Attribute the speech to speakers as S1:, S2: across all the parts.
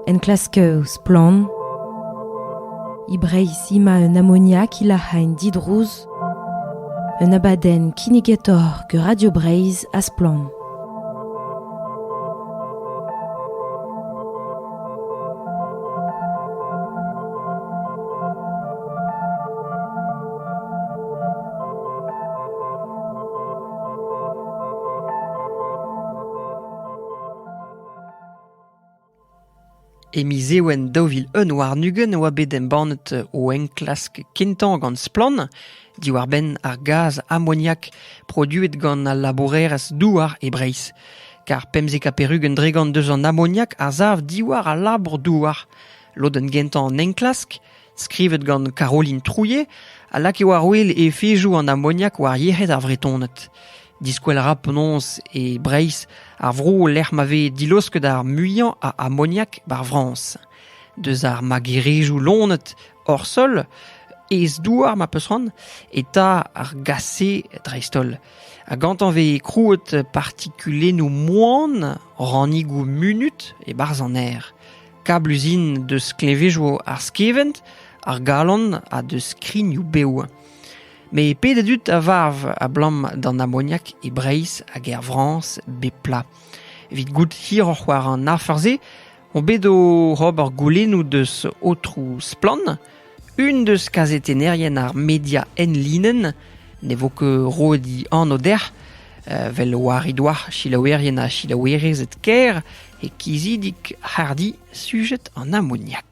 S1: Enklask Splann! E Breizh emañ un amoniak ilac'hañ didrouz un abadenn kinnigetaoc'h gant Radio Breizh ha Splann!
S2: E miz Ewen daou vil un warn-ugent e oa bet embannet o enklask kentañ gant Splann diwar-benn ar gaz amoniak produet gant al labourerezh douar e Breizh. Kar pemzek ha perugen dregont deus an amoniak a sav diwar al labour-douar. Lodenn gentañ an enklask Skrivet gant Caroline Trouillet a lakae war-wel efezoù an amoniak war yec'hed ar Vretoned. Diskwel a ra penaos e Breizh ar vro lec'h ma vez dilaosket ar muiañ a amoniak bar Frañs. Deus ar magerezioù lonet hor sol, ez-douar ma peus c'hoant, eta ar gase dreist-holl. Ha gantañ vez krouet partikulennoù moan, rannigoù munut e-barzh an aer. Kabluzin deus klevezioù ar skevent, ar galon ha deus skrignoù bev. Met pet a dud a varv abalamour d'an amoniak e Breizh hag er Frañs bep plat. Evit goût hiroc'h war an afer-se on bet oc'h ober goulennoù deus aotroù Splann Un deus kazetennerien ar media enlinenn ne vo ket roet he anv dec'h, vel war he doa selaouerien ha selaouerezed kêr e kizidik hardi sujet an amoniak.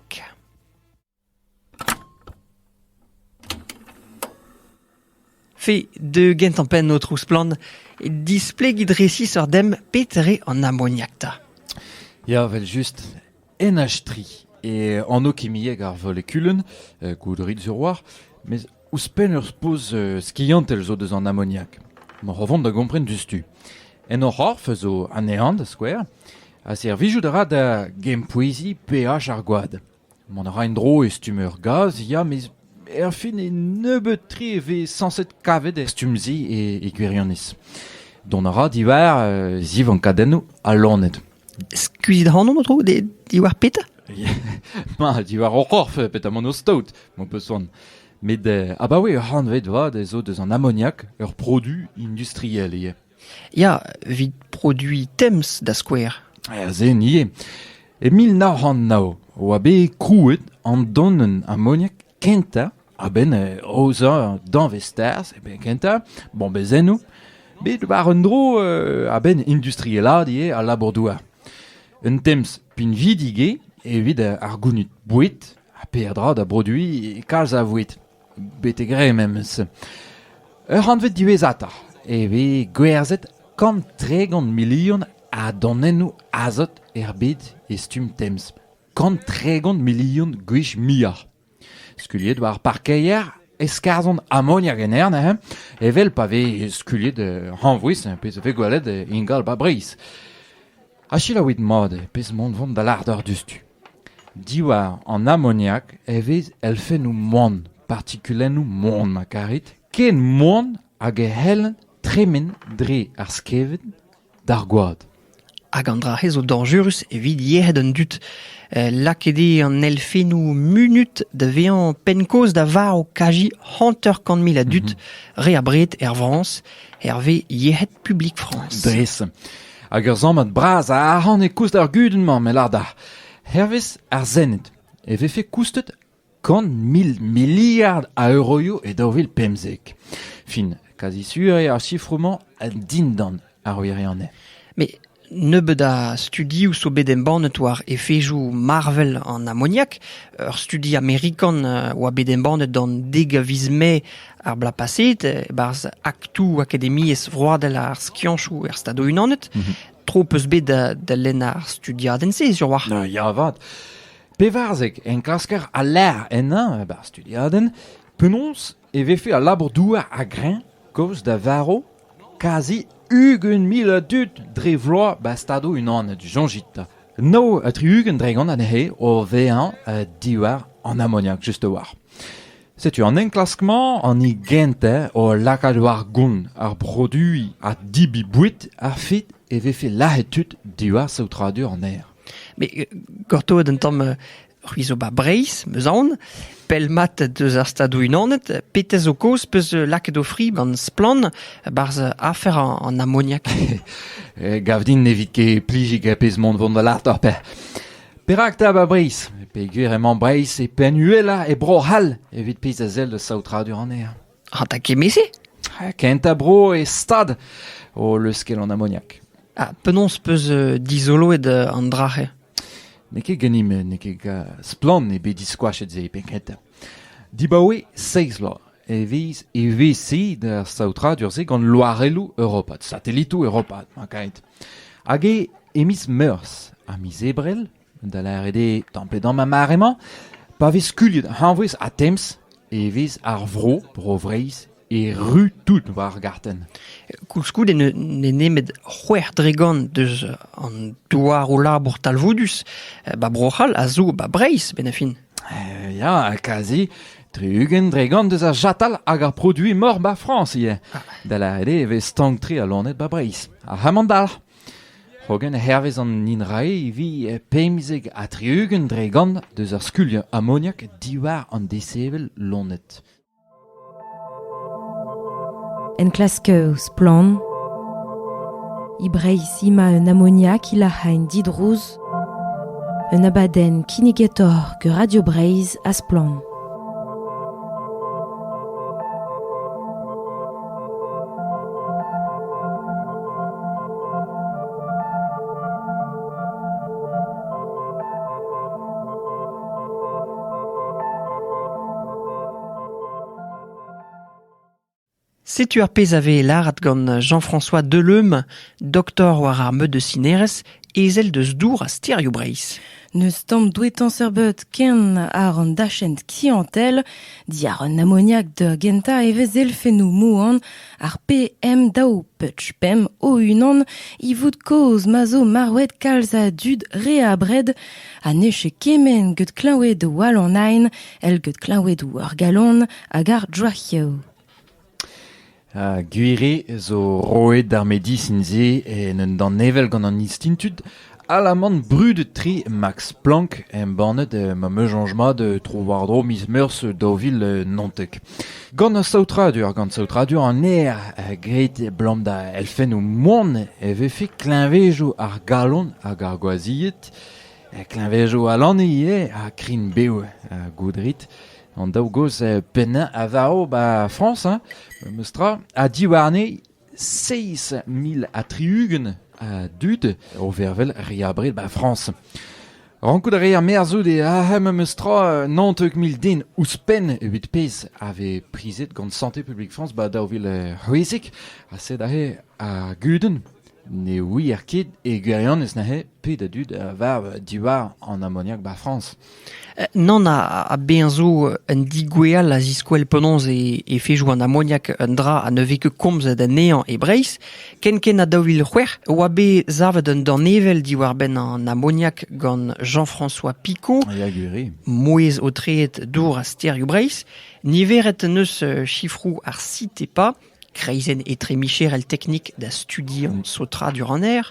S2: Fe, deuet gantañ penn, aotrou Splann, displegit resis oc'h demp petre an amoniak 'ta. Ya,
S3: vel-just, enach-tri eo anv kimiek ar volekulenn, uh, goudourit sur war, mes ouzhpenn ur spoz uh, skiantel zo deus an amoniak. Moc'h o vont da gompren diouzhtu. En o c'horf a zo anezhañ, da skouer, ha servijout a ra da gempoueziñ peaj ar gwad. Mont a ra en-dro e stumm ur gaz ya met erfin e nebeut-tre e vez sañset kavet er stumm-se e, e gwirionez. Dont a ra diwar uh, zivankadennoù ha loened. Skuizit
S2: ac'hanomp o tro de- diwar petra Ma,
S3: diwar hor c'horf petamant o staot, m'ho peus c'hoant. Met eh, abaoe ur c'hantved vat ez zo deus an amoniak ur produ industriel ivez. Ya,
S2: evit produiñ Thames da skouer. Aze ivez.
S3: E mil nav c'hant nav e oa bet krouet an donenn amoniak kentañ a-benn aozañ danvez tarzh, e kentañ, bombezennoù, bet war un dro a-benn industrielaat ivez al labour-douar. Un Thames pinvidik eo evit ar gounid boued ha peadra da broduiñ kalz a voued. betek re memes. Ur c'hantved diwezhatoc'h e vez gwerzhet kant tregont milion a donennoù azot er bed e stumm temz. Kant tregont milion gwech muioc'h. Skuliet war parkeier e skarzhont amoniak en aer neuze, evel pa vez skuliet hañvouez, pezh a vez gwelet ingal 'ba Breizh. Ha selaouit mat eo pezh mont vont da lâret diouzhtu. Diwar an amoniak e vez elfennoù moan, partikulennoù moan ma karit, ken moan hag e c'hellent tremen dre ar skevent d'ar gwad. Hag an dra-se
S2: zo dañjerus evit yec'hed an dud. Eh, lakaet eo an elfennoù munut da vezañ penn-kaoz da var o kaji hanter-kant mil a dud, re abred er Frañs, hervez Yec'hed Publik Frañs. Dres.
S3: hag ur sammad bras a arc'hant e koust ar gudenn-mañ me lâr-dac'h. Hervez ar Sened e vefe koustet kant mil miliard a euroioù e daou vil pemzek. Fin, kazi sur eo ar sifroù-mañ dindan ar wirionez. Mais
S2: nebeut a studioù zo bet embannet war efezoù marvel an amoniak. Ur studi amerikan a oa bet embannet an dek a viz Mae Ar bloaz-paset, e-barzh Aktoù Akademiezh Vroadel ar Skiantoù er Stadoù-Unanet, tro 'peus bet da, da lenn ar studiadenn-se ziwar. Ah, Ya avat.
S3: Pevarzek enklasker a lec'h ennañ e-barzh studiadenn. Penaos e vefe al labour-douar a-greñv kaoz da varv kazi ugent mil a dud dre vloaz ba Stadoù-Unanet. Soñjit. Nav ha tri-ugent dre gant anezhe o vezañ eh, diwar an amoniak, just a-walc'h. Setu an enklask-mañ an hini gentañ o lakaat war gont ar produiñ ha debriñ boued a-fet e vefe lazhet tud diwar saotradur an aer.
S2: Mais euh, gortoet un tamm euh, c'hwi zo ba Breizh, meus aon, pell mat deus ar Stadoù-Unanet, petez zo kaoz peus euh, lakaet o fri gant splann barzh afer an, an amoniak. Eh, gav
S3: din ne vit ket plijiñ er pezh mont vont da lart oc'h pe. Perak 'ta 'ba Breizh ? Peogwir emañ Breizh e penn uhelañ e Bro-C'hall evit pezh a sell da saotradur anezhañ. Ha da kement-se ?
S2: Kentañ bro
S3: e stad o leuskel an amoniak. Ha penaos
S2: 'peus dizoloet an dra-se ? N'eo ket
S3: ganimp, n'eo ket splann eo bet diskoachet se penn-kentañ. Dibaoe seizh vloaz e vez evezhiet ar saotradur-se gant loarelloù europat, satelitoù europat, mankait. Hag eo e miz Meurzh ha miz Ebrel, da lâret eo tamm pe damm ar mare-mañ, pa vez skuilhet hañvouez ha temz e vez ar vro, Bro-Vreizh, erru tout war ar gartenn. Koulskoude
S2: n'eo nemet c'hwec'h dregont deus an douaroù-labour talvoudus, ba Bro-C'hall a zo ba Breizh, benn ar fin. Eh ya,
S3: kazi, tri-ugent dregont eus ar chatal hag ar produiñ mor 'ba Frañs ivez. Da lâret eo e vez stank-tre al loened 'ba Breizh. Ar c'hamandalc'h. Hogen hervez an INRAE e vi pemzek ha tri-ugent dregont deus ar skuliañ amoniak diwar an desevel loened.
S1: Enklask Splann! E Breizh emañ un amoniak ilac'hañ didrouz, un abadenn kinnigetour gant Radio Breizh ha Splann!
S2: Setu ar pezh a vez lâret gant Jean-François Deleum, doktor war ar meud de Cineres, ezel deus dour ha stêrioù Breizh. N'eus tamm
S1: douetañ serbet ken àr an dachent kiantel. Diàr an amoniak da gentañ e vez elfennoù moan Ar PM daou peuch pemp o-unan ivoud kozh ma zo marvet kalz a dud re abred ha ne ket kement get klañvoudoù all an Aen èl get klañvoudoù ar galon hag ar droaioù.
S3: Gwir eo zo roet ar medisin-se en un danevell gant an Institut Alaman brudet-tre Max Planck embannet ma meuzanj mat tro-war-dro miz Meurzh daou vil naontek. Gant ar saotradur, gant saotradur an aer graet abalamour da elfennoù moan e vefe kleñvezoù ar galon hag ar gwazhied, kleñvezoù al lann ivez ha krign-bev goudrit. An daou gozh pennañ a varv 'ba Frañs, memes tra, ha diwarne Seizh mil ha tri-ugent a dud o vervel re abred 'ba Frañs. Rankout a reer merzout e arc'hem memes tra naontek mil den ouzhpenn evit pezh a vez prizet gant Santé publique France 'ba daou vil c'hwezek ha sed aze ar gudenn ne ouier ket e gwirionez neuze pet a dud a varv diwar an amoniak 'ba Frañs. Nann, ha
S2: bezañ zo un digweall a ziskouell penaos e fejo an amoniak un dra ha ne vez ket komzet anezhañ e Breizh. Kenkent ha daou vil c'hwec'h e oa bet savet un danevell diwar-benn an amoniak gant Jean-François Picot, mouezh-aotreet dour ha stêrioù Breizh. Niveret en deus sifroù ar Citepa Kreizenn etremicherel teknik da studiañ saotradur an aer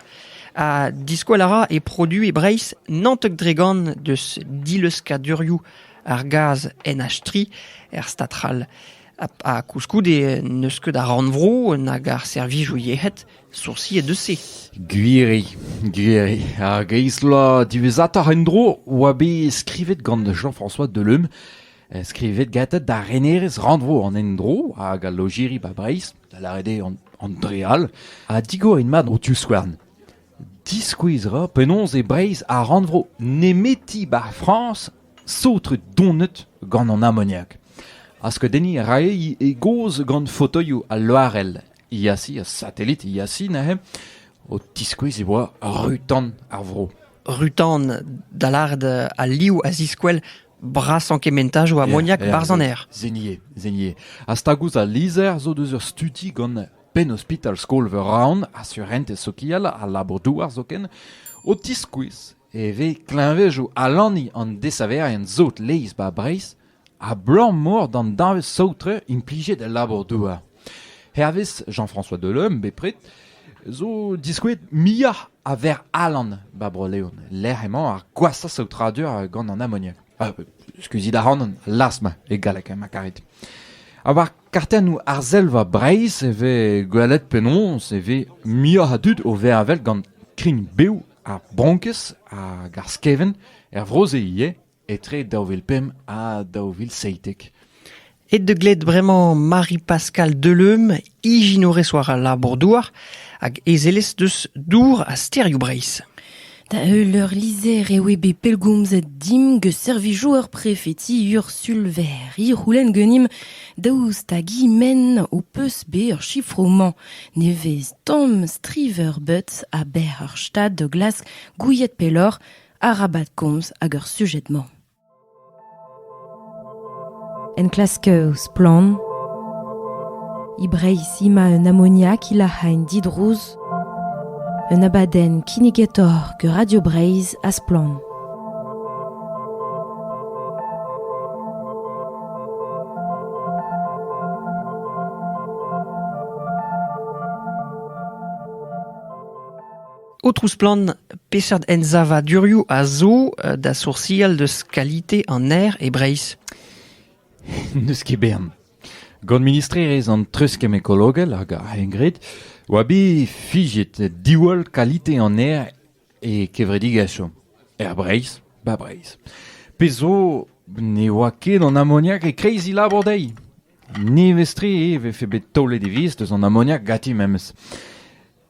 S2: ha diskoall a ra e produoù e Breizh Nantek-Dregan deus dileuzkadurioù ar gaz NH3 er stad c'hall. Ha koulskoude n'eus ket ar rannvro nag ar servijoù yec'hed soursiet eus se. Gwiri,
S3: gwiri. Ar greiz-bloaz diwezhatoc'h en-dro oa bet skrivet gant Jean-François Deleume Skrivet gantañ da renerez rannvro an endro hag al lojeri 'ba Breizh, da lâret eo an dre all, ha digor int mat ho divskouarn. Diskouez 'ra penaos eo Breizh ar rannvro nemeti 'ba Frañs saotret donet gant an amoniak. Askeudenniñ a rae e gaoz gant fotoioù al loarell Iași, ar satelit Iași neuze, o tiskouez e oa ru-tan ar vro. Rutan,
S2: da lâret al liv a ziskouel brasañ kementajoù amoniak yeah, 'barzh an aer. Zenier, Zenier.
S3: Ha stag ouzh al lizher zo deus ur studi gant Penn-ospital skol-veur Raon, assurentez sokial ha labour-douar zoken, o tiskouez e vez kleñvejoù alaniñ an desaverien sot laezh 'ba Breizh Abalamour d'an danvez saotre implijet el labour-douar, hervez Jean-François Delhomme bepred, zo diskouez muioc'h a verr alan 'ba Bro-Leon, lec'h emañ ar gwashañ saotradur gant an amoniak. Ah, skuizhit a ran las-ma e galleg, ma karit. Ha war kartennoù arzelva Breizh e vez gwelet penaos e vez muioc'h a dud o vervel gant krign bev ar bronkez hag ar skevent er vro-se ivez. etre daou vil pemp ha daou vil seitek. Aet da
S2: gled bremañ Marie-Pascale Deleume, ijinourez war al labour-douar hag ezelez deus Dour ha Stêrioù Breizh. Da heul
S1: ur lizher e oe bet pellgomzet dimp gant servijoù ur prefeti Ursulver. Hi c'houlenn ganimp daoust hag men ho peus bet ur chifroù-mañ nevez tamm striver-butz a-benn ur stad da glask gouiet pelloc'h arabat komz ag ar sujed-mañ. Enklask Splann e Breizh ima un amoniak ilac'hain didrouz un abadenn kinnigetoc'h ger Radio Breizh ha Splann.
S2: Aotrou Splann, peseurt ensavadurioù a zo da soursial deus kalite an aer e Breizh ?
S3: N'eus ket bern. Gant ministrerezh an treuzkemm ekologel hag ar c'hengred oa bet fiziet diwall kalite an aer e kevredigezhioù er Breizh, 'ba Breizh. Pezh zo ne oa ket an amoniak e-kreiz he labour dezhi. Nevez-tre e vefe bet taolet e viz deus an amoniak ganti memes.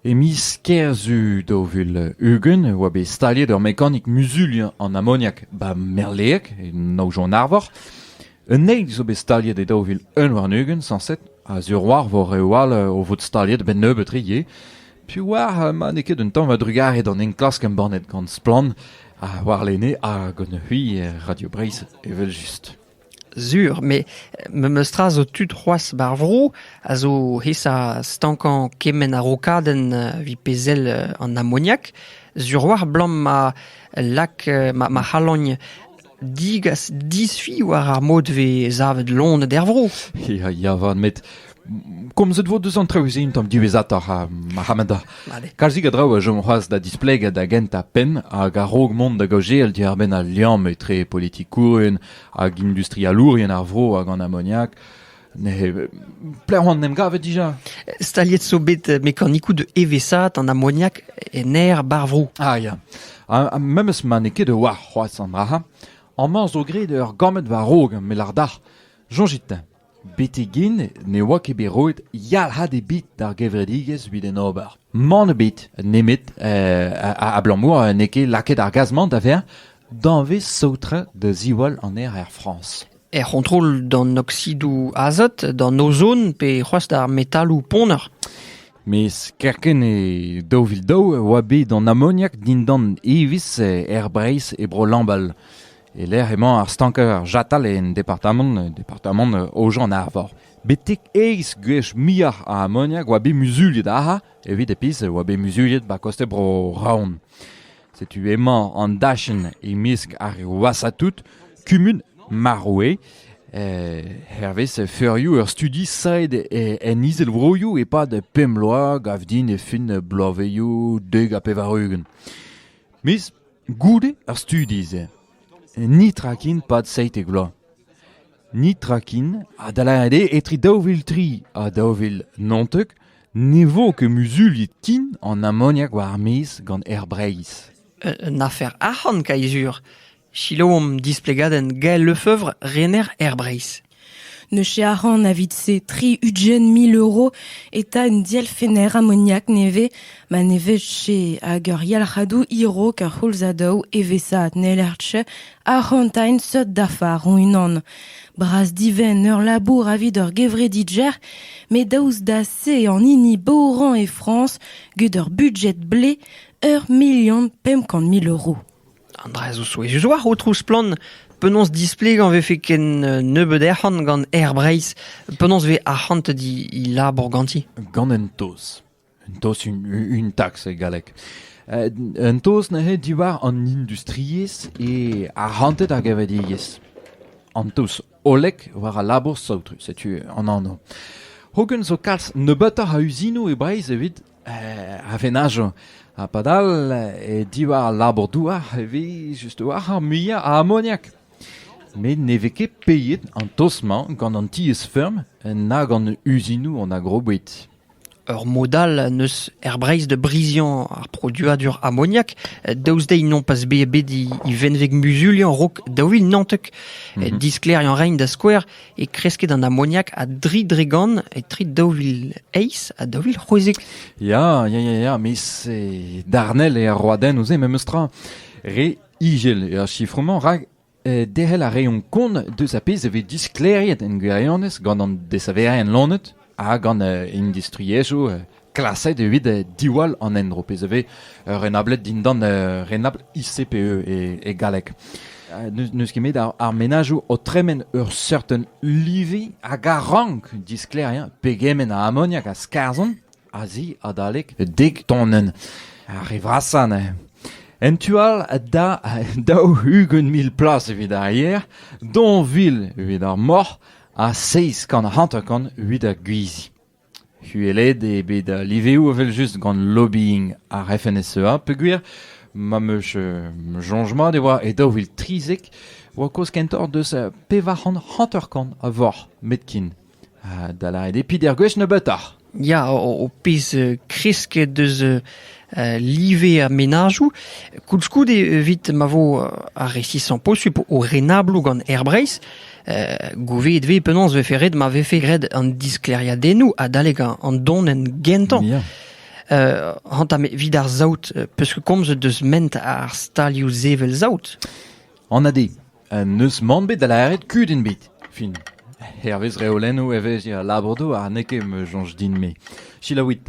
S3: E miz Kerzu daou vil ugent e oa bet staliet ur mekanik muzuliañ an amoniak 'ba Merleeg, e Naonjon-Arvor. Un eil zo bet staliet e daou vil un warn-ugent sañset, a-ziwr war vor reoù all o vot staliet a-benn nebeut-tre ivez. Piv oar ma n'eo ket un tamm a-drugarez d'an enklask embannet gant Splann ha warlene ha gant c'hwi Radio Breizh evel-just. Sur, met
S2: memes tra zo tud c'hoazh ba'r vro a zo aesa stankañ kement a-rokadenn evit pezh sell an amoniak. Sur oa abalamour ma lak ma ma c'halogn digas disfi war ar mod 'vez savet loened er vro. Ya, ya 'vat
S3: met komzet vo deus an traoù-se un tamm diwezhatoc'h ha marc'hamata kalzik a draoù a chom c'hoazh da displegañ da gentañ penn hag a-raok mont da gaozeal diàr-benn al liamm etre politikourien hag industrialourien ar vro hag an amoniak ne plehon em gavet dija staliet zo bet
S2: mekanikou de evesat an amoniak en aer bar vro ah ya ha
S3: memes ma n'eo ket war c'hoazh an dra amañ zo graet ur gammed war-raok met lardac'h soñjit-teñ Betek-hen ne oa ket bet roet yalc'had ebet d'ar gevredigezh evit en ober. Mann ebet nemet abalamour n'eo ket lakaet ar gaz-mañ da vezañ danvez saotrañ da ziwall an aer er Frañs. Er c'hontrol
S2: d'an oksidoù azot, d'an ozon pe c'hoazh d'ar metaloù ponner. Mes
S3: kerkent e daou vil daou e oa bet an amoniak dindan evezh er Breizh e Bro Lambal. E-lec'h emañ ar stanker chatal en departamant, departamant Aojan-Arvor. Betek aes gwech muioc'h a amoniak oa bet muzuliet ac'ha evit e pizh oa bet muzuliet ba koste Bro-Raon. Setu emañ an dachenn e-mesk ar wasatout kumun Maroue. Eh, hervez feurioù ur studi saet en izelvroioù e-pad pemp bloaz gav din e fin bloavezioù dek ha pevar-ugent. Miz Goude ar studi-se netra ken 'pad seitek vloaz. Netra ken ha da lâret eo etre daou vil tri ha daou vil naontek ne vo ket muzuliet ken an amoniak war-maez gant Aer Breizh. Un afer
S2: arc'hant, Kaizur. Selaouomp displegadenn Gael Lefeuvre, rener Aer Breizh. Ne
S1: chiaran evit-se tri ugent mil euro eta un dielfenner amoniak nevez ma ne vije hag ur yalc'hadoù hirok a c'houlzadoù evesaat n'hellerche arc'hantaén seurt dafar hon-unan. Bras-divent ur labour evit ur gevredidjer, met daoust da se an hini boran e Frañs gant ur budjet blez ur milion pemp kant mil euro. An dra zo
S2: souezhus oac'h, Aotrou Splann, penaos displegañ 'vefe ken nebeut arc'hant gant Aer Breizh, penaos 'vez arc'hant he labour ganti? Gant un taos.
S3: Un taos, une taxe e galleg. Un taos neuze diwar an industriezh e arc'hanted ar gevredigezh. An taos hollek war al labour saotrus, setu an anv. Hogen zo kalz nebeutoc'h a uzinoù e Breizh evit a venajo. Ha padal, e diwar al labour-douar e vez just war ar muiañ a amoniak. Met ne vez ket peiet an toz-mañ gant an tiez-feurm na gant uzinoù an agroboued. Ur mod
S2: all n'eus er Breizh da briziañ ar produadur amoniak, daoust dezhi nompas bet bet e venveg muzuliañ rok daou vil naontek. Mhm. Disklêriañ rein da skouer e kresked an amoniak a dri dregont etre daou vil eizh ha daou vil c'hwezek. Ya, ya, ya,
S3: ya, mais c'est darnel e ar roadennoù-se memes tra. Re igel er sifromañ, rak eh, derc'hel a reont kont deus a pezh e vez disklêriet en gwirionez gant an desaverien lonet ha gant industriezhioù klaset evit diwall an endro, pezh a vez renablet dindan renabl ICPE e, galleg. N'eus ket met ar, menajoù o tremen ur certain livi hag a rank disklêriañ pegement a amoniak a skarzhont a-zi adalek dek tonenn ar re vrasañ neuze. En tu all da daou ugent mil plas evit ar yer, donville evit ar moc'h, ha seizh kant hanter-kant evit ar gwizi. Uhelet eo bet al liveoù evel-just gant lobbying ar FNSEA peogwir ma 'm eus soñj mat e oa e daou vil trizek e oa kozh kentoc'h deus pevar c'hant hanter-kant a voc'h met ken. Da lâret eo pider gwech nebeutoc'h. Ya, ho
S2: pez kresket eus live ar menajoù. Koulskoude, evit ma vo ar resisañ posupl o renabloù gant Air Breizh, gouveet vez penaos vefe ret ma vefe graet an disklêriadennoù adalek an donenn gentañ. Ya. Uh, hanta evit ar saout, peus komzet deus ment ar stalioù sevel saout? An ade,
S3: N'eus mann bet da lâret kudenn ebet. Fin. Hervez reolennoù evezhiañ al labour-douar n'eo ket ma soñj din-me. Selaouit.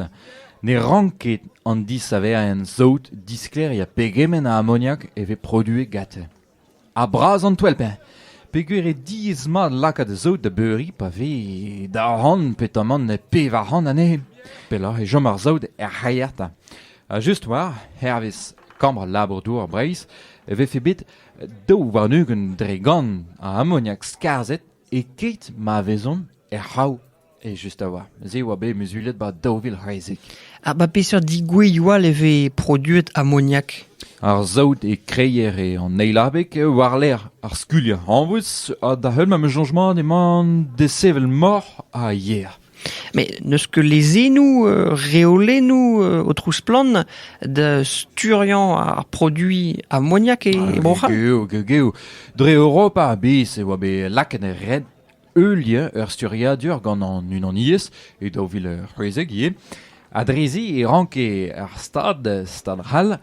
S3: Ne rank ket an disaverien saout, disklêriañ pegement a amoniak e vez produet gante. Ha bras an toell-beñ. Peger eo diaes-mat lakaat saout da beuriñ pa vez daou c'hant pe tamant pevar c'hant anezhe. Pelloc'h e chom ar saout er c'haiata. Ha just war, hervez kambr labour-douar Breizh, e vefe bet Daou warn-ugent dre gant a amoniak skarzhet e-keit ma vezont er c'hav evel-just a-walc'h. Se a oa bet muzulet ba daou vil c'hwezek. Ha ba peseurt
S2: digouezioù all e vez produet amoniak Ar saout
S3: e kreier eo an eil abeg war-lerc'h ar skuliañ hañvouez ha da-heul ma changement emañ desevel moc'h ha yer. met n'eus
S2: ket lezennoù reolennoù aotrou Splann da sturiañ ar produiñ amoniak e Bro-C'hall. Geo, geo, geo.
S3: Dre Europa a-bezh e oa bet lakaet er red ul lien, ur sturiadur gant an unaniezh e daou vil c'hwezek ivez. Ha drezi e ranke ar Stad, Stad C'hall,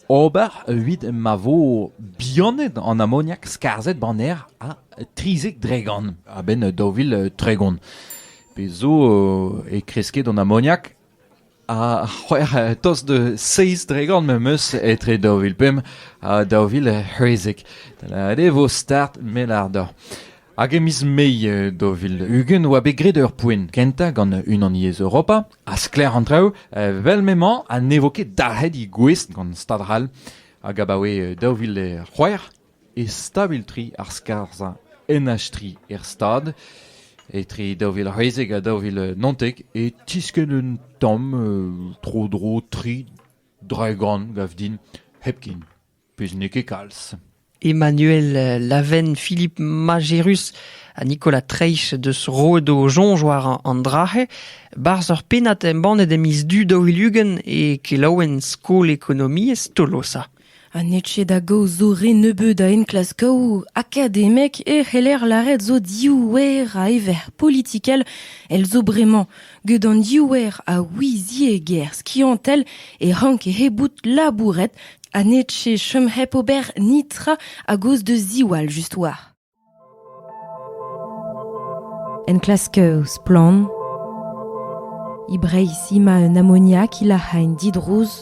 S3: Ober evit ma vo bihanet an amoniak skarzhet ba'n aer ha trizek dregont a-benn daou vil tregont. Pezh zo e kreske d'an amoniak ha c'hwec'h tost de seizh dregont memes etre daou vil pemp ha daou vil c'hwezek. Ret e vo start mel ar dor. Hag e miz Mai daou vil ugent oa bet graet ur poent kentañ gant unan yezh Europa ha sklaer an traoù, vel m'emañ ha ne vo ket dalc'het he gouest gant stad ral hag abaoe daou vil c'hwec'h e stabil tri ar skarzhañ NH3 er stad etre daou vil c'hwezek ha daou vil naontek e tiskenn un tamm tro-dro tri draegan gav din hepken. Pezh n'eo ket kalz. Emmanuel
S2: Laven-Philippe Majerus ha Nicolas Treich deus roet o soñj war an dra-se. Barzh ur pennad embannet e miz Du daou-vil-ugent e kelaouenn Skol Ekonomiezh Tolosa. Ha n'eo ket
S1: da gaoz zo re nebeut a enklaskoù akademek e c'heller lâret zo div wer a ever politikel. El zo bremañ Gant an diouer a ouiziegezh skiantel e ranke he bout labouret ha n'eche chom hep ober netra a-gozh da ziwall just war. Enklasker splann e Breizh emañ un amoniak ilac'hañ didrouz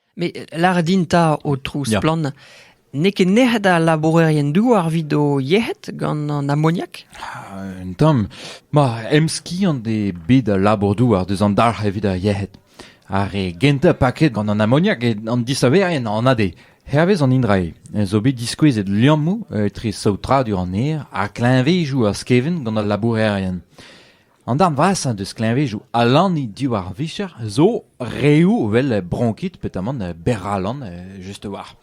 S2: Met lâret din 'ta, aotrou Splann, n'eo ket nec'het al labourerien-douar evit o yec'hed gant an amoniak Un tamm.
S3: Ma emskiant eo bet al labour-douar deus an dalc'h evit ar yec'hed. Ar re gentañ paket gant an amoniak eo an disaverien anat eo. Hervez an indrae zo bet diskouezet liammoù etre saotradur an aer ha kleñvezoù ar skevent gant al labourerien. An darn vrasañ deus kleñvedoù alanniñ diwar ar vicher zo reoù evel bronkit petamant berralan just war.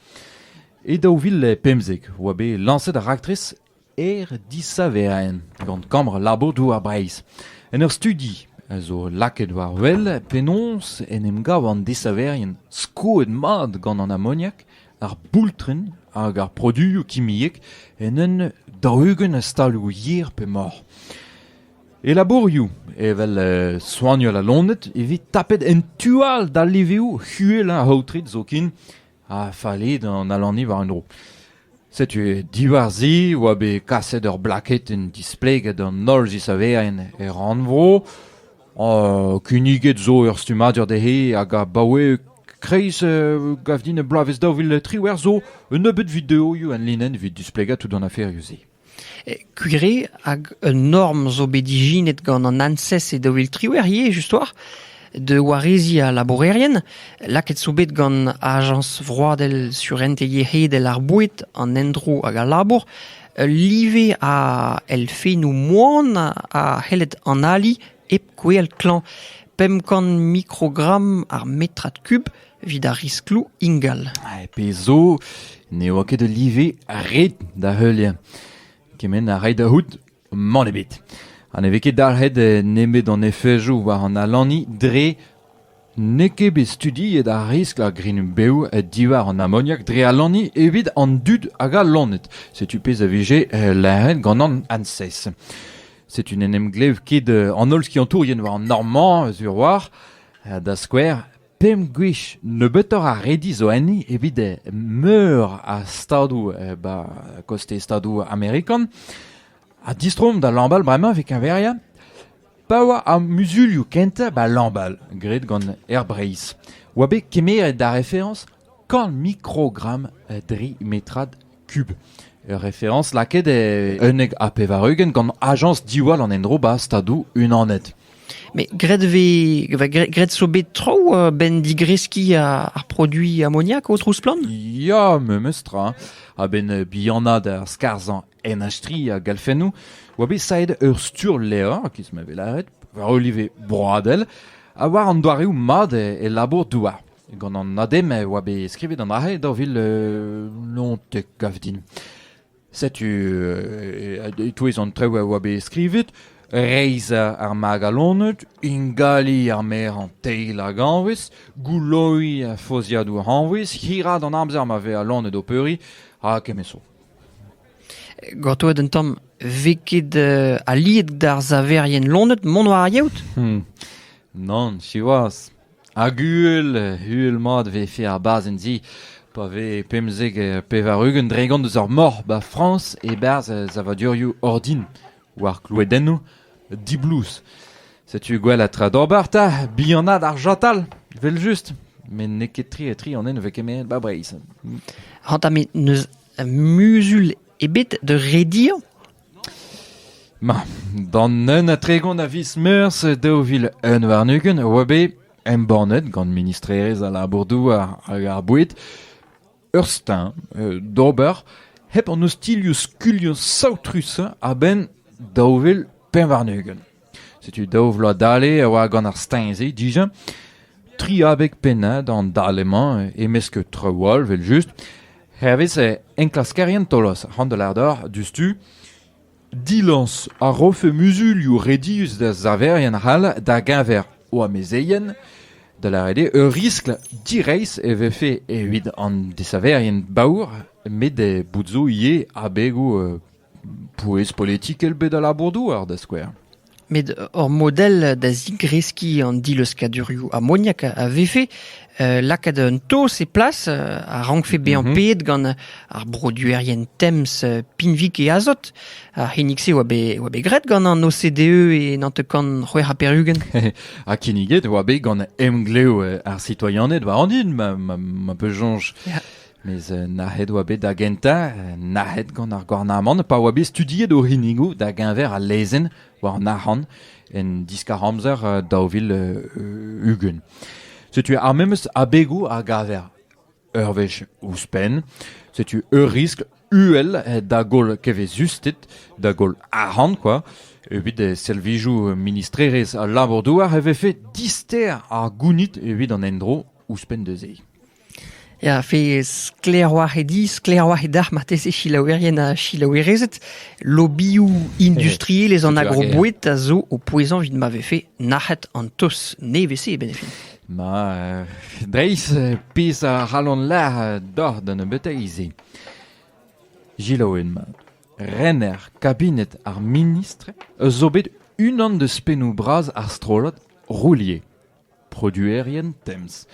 S3: E daou vil pemzek oa bet lañset ar raktres Er disaveraén gant kambr labour Douar Breizh. En ur studi a zo lakaet war wel penaos en em gav an desaverien skoet mat gant an amoniak, ar boultren hag ar produioù kimiek en un daou-ugent a staloù yer pe mor. E labourioù, evel soignal aloned, e vez tapet en tu all d'al liveoù uhelañ aotret zoken ha fallait an alaniñ war un dro. Setu diwar-se e oa bet kaset ur blaketenn displeget d'an holl zisaverien er rannvro. Kinniget zo ur stummadur dezhe hag abaoe kreiz gavdin bloavezh daou vil triwec'h zo un nebeud videoioù enlinenn evit displegañ tout an aferioù-se. Kugre
S2: hag un norm zo bet ijinet gant an ANSES e daou vil triwec'h ivez just-war da wareziñ al labourerien lakaet zo bet gant Ajañs vroadel surentez yec'hedel ar boued, an endro hag al labour ul live a elfennoù moan a c'helled analiñ hep gwell klañv. Pemp kant mikrogramm ar metrad kub evit ar riskloù ingal. Ha pezh zo,
S3: ne oa ket ul live ret da heuliañ. Kement a ray da c'hoût, mann ebet. Ha ne vez ket dalc'het nemet an efejoù war an alani dre n'eo ket bet studiet ar riskl ar grign-bev diwar an amoniak dre alani evit an dud hag al loened. Setu pezh a vije lâret gant an ANSES. Setu n'en em glev ket an holl skiantourien war an Normand, sur war, da skouer, Pemp gwech nebeutoc'h a redi zo enni evit meur a stadoù ba kostez Stadoù amerikan. Ha distroomp da Lambal bremañ evit keñveriañ. Pa oa ar muzulioù kentañ ba Lambal, graet gant Air Breizh, oa bet kemeret ar referañs Korn mikrogramm tri metrad kub. Ur referañs lakaet e unnek ha pevar-ugent gant ajañs diwall an endro 'ba Stadoù Unanet. Mais
S2: graet vez, graet zo bet traoù a-benn digreskiñ ar produiñ amoniak o trouz-splann Ya, memes
S3: tra. A-benn bihanaat ar skarzhañ NH3 a galfennoù oa bet saet ur stur-levr, kiz ma vez lâret, war olive broadel, ha war an doareoù mat e labour-douar. Gant an ADEM e oa bet skrivet an arc'he daou vil unnek gav din. Setu e-touez an traoù a oa bet skrivet reizhañ ar magalaned, ingaliñ ar merañ teil hag anvez, gouloiñ ar fozhiadoù anvez, hiraat an amzer ma vez al laned o peuriñ, ha kement-so.
S2: Gortoet un tamm, vez ket aliet d'ar saverien laned mont war ar yaout? Hmm.
S3: Nann, siwazh. Hag uhel, uhel-mat e vefe ar bazenn-se pa vez pemzek ha pevar-ugent dregont eus ar mor 'ba Frañs e-barzh savadurioù ordin war kloadennoù diblouz. Setu gwell ha tra d'ober 'ta, bihanaat ar chatal, evel-just. Met n'eo ket tre-tre an ene ne vez kemeret 'ba Breizh. Hañta
S2: met n'eus muzul ebet da rediañ
S3: Ma, d'an un ha tregont a viz Meurzh daou vil un warn-ugent e oa bet embannet gant ministrerezh al labour-douar hag ar boued ur steuñv d'ober hep an ostilhoù-skuilhoù saotrusañ a-benn daou vil pevar-ugent. Setu daou vloaz dale a oa gant ar steuñv-se dija. Tri abeg pennañ d'an dale-mañ e-mesk traoù all evel-just. Hervez enklaskerien Taolos c'han da lador diouzhtu dilañs a rofe muzulioù redius da saverien c'hall da-geñver o amezeien, da lâret eo ur riskl direizh e vefe evit an desaverien baour met bout zo ivez abegoù Pouez politikel bet al labour-douar, da skouer. Met
S2: ur model da zigreskiñ an dileuskkadurioù amoniak a vefe lakaat un taos e plas a rankfe bezañ paeet gant ar broduerien Tems, Pinvik e azot. Ar c'hinnig-se oa bet oa bet graet gant an OCDE e nantek kant c'hwec'h ha pevar-ugent. Ha kinniget
S3: oa bet gant emglev ar sitoianed war an hin, ma, ma, ma peus soñj. Mes
S2: nac'het
S3: oa bet da gentañ, nac'het gant ar gouarnamant pa oa bet studiet o c'hinnigoù da-geñver al lezenn war an arc'hant en diskar-amzer daou vil ugent. Setu ar memes abegoù a gaver ur wech ouzhpenn. Setu ur riskl uhel da goll kevezusted, da goll arc'hant kwa. Evit servijoù ministrerezh al labour-douar e vefe dister ar gounid evit an endro ouzhpenn da se. Ya, fe
S2: sklaeroc'h eo dit, sklaeroc'h eo deoc'h marteze selaouerien ha selaouerezed. Lobioù industriel eus an agroboued a zo o pouezañ evit ma vefe nac'het an tos nevez-se e benefin. Ma, euh,
S3: dreist, pezh a ralon lec'h doc'h da nebeuteiz-se. Gilaouen ma. Rener kabinet ar ministr eus zo bet unan deus pennoù bras ar strollad Roulier. produerien temz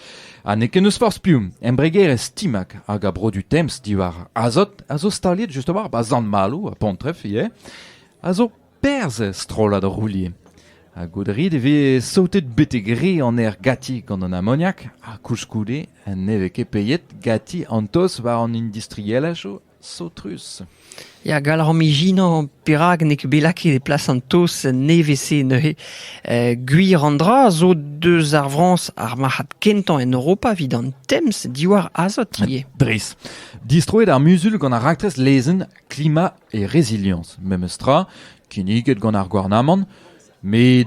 S3: ha n'eo ket n'eus forzh piv embregerezh Timag hag a brodu temz diwar azot a zo staliet justement ba Sant-Maloù ha Pontreff ivez a zo perzh er strollad roulier ha goudrit e vez saotet betek re an aer gati gant an amoniak ha koulskoude ne vez ket peiet gati an toz war an industrielajoù Saotrus. Ya, gall
S2: rom ijinañ perak n'eo ket bet lakaet e plas an taos nevez-se neuze. Eh, gwir an dra zo deus ar Frañs ar marc'had kentañ en Europa evit an temz diwar azot ivez. Dres.
S3: Distroet ar muzul gant ar raktres lezenn Klima et Résilience, memes tra, kinniget gant ar gouarnamant, met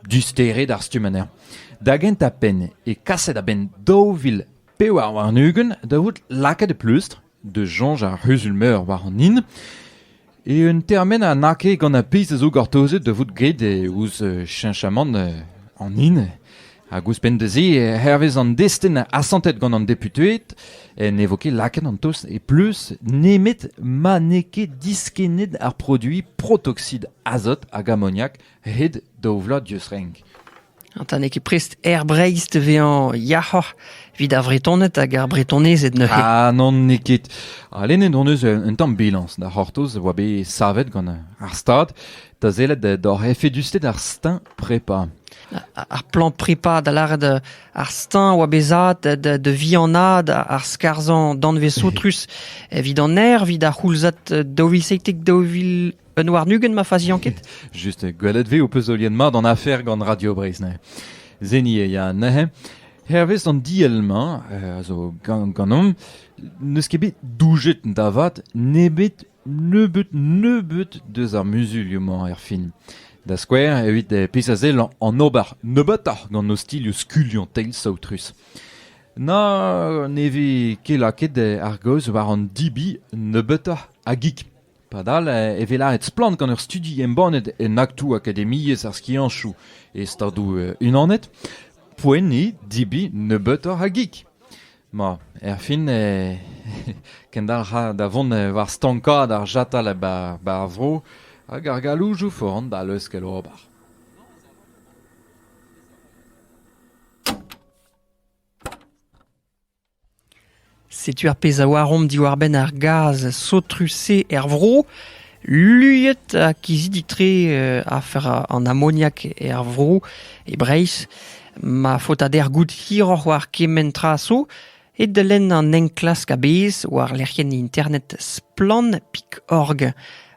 S3: disteret ar stumm anezhañ. Da gentañ penn e kaset a-benn daou vil pevar warn-ugent da vout lakaet e pleustr da soñj ar c'huzul-meur war an hin eo un termen a n'a ket gant ar pezh a zo gortozet da vout graet ouzh cheñchamant an hin hag ouzhpenn da se hervez an destenn asantet gant an deputeed ne vo ket lakaet an tost e pleuz nemet ma n'eo ket diskennet ar produiñ protoxid azot hag amoniak hed da ovlañ dieus renk. Ta n'eo ket
S2: prest Air Breizh da vezañ yac'hoc'h evit ar Vretoned hag ar Bretonezed neuze. Ah non, n'eo ket.
S3: Ha lennet hon eus un tamm bilañs da c'hortoz a oa bet savet gant ar Stad da sellet d'hor efedusted ar steuñv prepa. Ar
S2: plan prepa da lâret euh, ar steuñv oa bezat da, da vihanaat ar skarzhañ danvez soutrus evit an aer, evit ar c'houlzad 2016 Un warn-ugent ma faziañ ket Just, gwelet vez
S3: ho peus oliet mat an afer gant Radio Breizh neuze. Zeni e ya neuze. Hervez an diell-mañ, eh, a zo gan- ganeomp, n'eus ket bet doujet da vat nebet nebeut nebeut deus ar muzulioù-mañ er fin. Da skouer, evit eh, pezh a sell an ober nebeutoc'h gant ostilhoù skuliañ teil saotrus. Na ne vez ket lakaet eh, ar gaoz war an dibi nebeutoc'h a gig. Padal e vez lâret splann gant ur studi embannet en aktoù akademiezh ar skiantoù e Stadoù-Unanet poenniñ debriñ nebeutoc'h a gig. Ma, erfin e kendalc'ha da vont war stankaat ar chatal bar ar vro hag ar galoujoù foran da leuskel ober.
S2: Setu ar pezh a oaromp diwar-benn ar gaz saotrus-se er vro. Luiet ha kizidik-tre afer an amoniak er vro, e Breizh. Ma faotader goût hiroc'h war kement tra zo eo da lenn an enklask a-bezh war lec'hienn internet splann.org.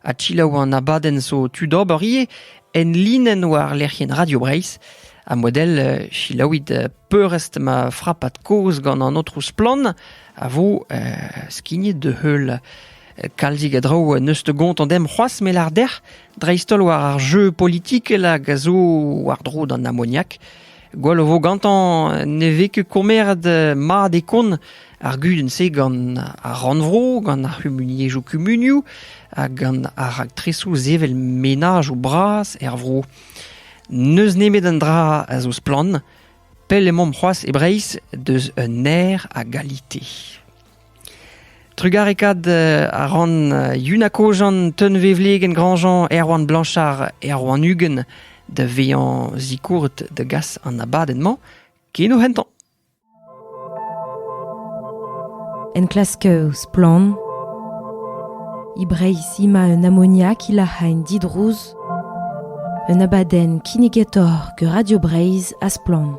S2: Ha selaou an abadenn zo tu d'ober ivez en linenn war lec'hienn Radio Breizh. Ha model selaouit peurrest ma frapad kozh gant an aotrou Splann a vo skignet da heul. Kalzig a draoù neus te gontañ demp c'hoazh me lar dec'h dreist-holl war ar jeu politikel hag a zo war-dro d'an amoniak. Gwell o vo gantañ ne vez ket kommeret mat e kont ar gudenn-se gant ar rannvro, gant ar c'humuniezhioù kumunioù hag gant ar raktresoù sevel menaj o bras er vro. N'eus nemet un dra a zo splann, pell emaomp c'hoazh e Breizh deus un aer a galite. Trugarekaat a ran Yuna Kojan, Teunvevlegenn Grandjean, Erwan Blanchard, Erwan Uguen da vezañ zikourret da gas an abadenn-mañ ken o hentañ.
S1: Enklask Splann! E Breizh emañ un amoniak hilac'hañ didrouz un abadenn kinnigator gant Radio Breizh ha Splann!